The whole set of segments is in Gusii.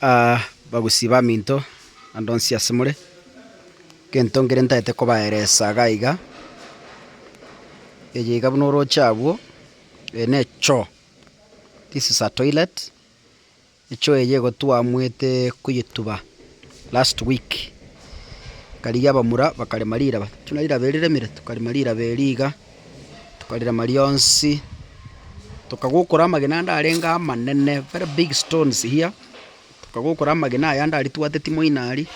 Aa, bagusii baminto, naende onsi asemore, egento nkere ntaete kobaeresa iga iga, eye iga buna oroche agwo, eye ne choo, this is a toilet, echoo eye nigo twamwete koyetuba last week, ekarigia abamura bakarema riraba, tuna riraba eri riremire, tokarema riraba eri iga. Tokarira maria onsi, tokagokora amagena ande arenge amanene, very big stones here, tokagokora amagena aya ande aria twateti moino aria,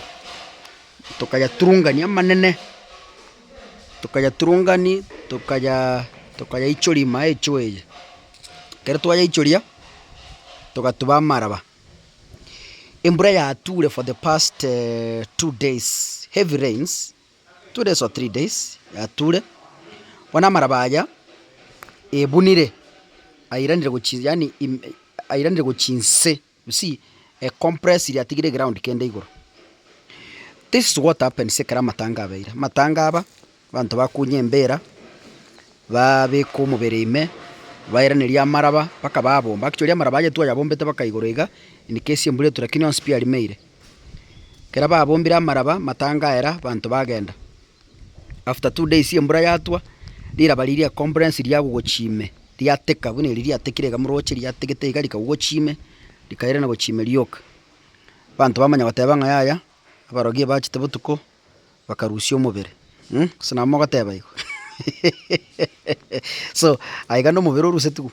tokayaturungania amanene, tokayaturungani, tokaya tokayaichori ime aye choo eye. Ekero twayaichoria, togatuba amaraba. Embura yature for the past two days, heavy rains, Two days or three days yature bono amaraba aya ebunire airanire gochi yaani im airanire gochia inse you see e compress ire atigire eground kende igoro. This is what happens ekero amatanga abeire, amatanga aba abanto bakunya embira babeka omobere ime bairaneria amaraba mpaka babomba, actually amaraba aya twayabombete mpaka igoro iga in case embura etwe lakini onsi pi arimeire. Ekero babombire amaraba matangaera abanto bagenda. After two days embura yatwa, riraba riria comprehense riagogochi ime, riateka buna eri riatekire iga moroche, riategete iga rikagogochi ime, rikairana gochi ime rioka. Abanto bamanya goteba ng'a yaya, abarogi ebachete botuko, bakarusia omobere, um gose nabo mogoteba igo so aiga nomobere orusetigwe.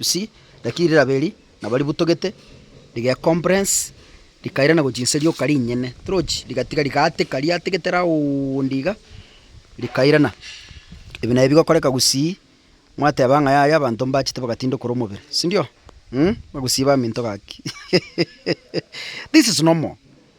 Usi, lakini rirabe eri nabo ributogete, rigecompress, rikairana gochia inse rioka rinyene, torochi, rigatiga rigaateka, riategete roundi iga, rikairana. Ebi nabio bigokoreka gusii, mwateba ng'a yaya abanto mbachete bagatindokora omobere, sindio? Mh, bagusii baminto gaki, hehehehe, this is normal.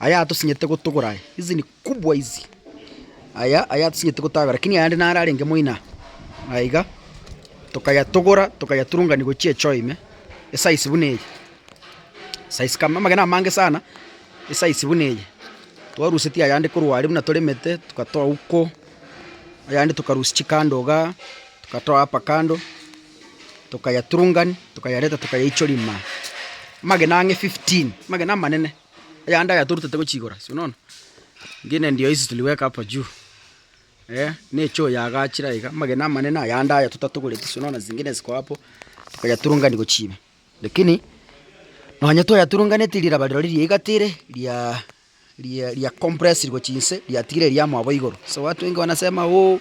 Aya atosinyete gotogora aya. Hizi ni kubwa hizi. Aya, aya atosinyete gotagora. Lakini ayande naro arenge moino aa. Aya iga. Tokayatogora, tokayaturungania gochia echoo ime. Esize buna eye. Size kama, amagena amange sana, esize buna eye. Twarusetie ayande korwa aria buna toremete, tokatoa huko, ayande tokarusia chikando igaa, tokatoa hapa kando. tokayaturungania, tokayareta tokayaichoria ime aa. Amagena ang'e fifteen, amagena amanene, ayande aya torutete gochia igoro ase, onono? Engine ndio hizi tuliweka hapa juu, eeh, ne choo yaagachire aiga, amagena amanene ayande aya totatogoreti ase onono, zingine ziko hapo, tokayaturungania gochia ime. Lakini, nonya twayaturunganeti riraba riro riria iga tiri riaaa. riakompresirwe chinse, riatigire riamoa bo igoro. So watu wengi wanasema oh,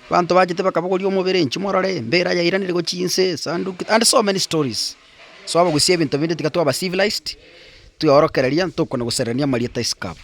abanto bachete bakabogoria omobere, inchuo morore, embera yairaneire go chinse, esanduki, and so many stories. So abagusia ebinto binde tiga twaba civilised, twaorokereria, ntokwana gosererania amarieta isiko abwo.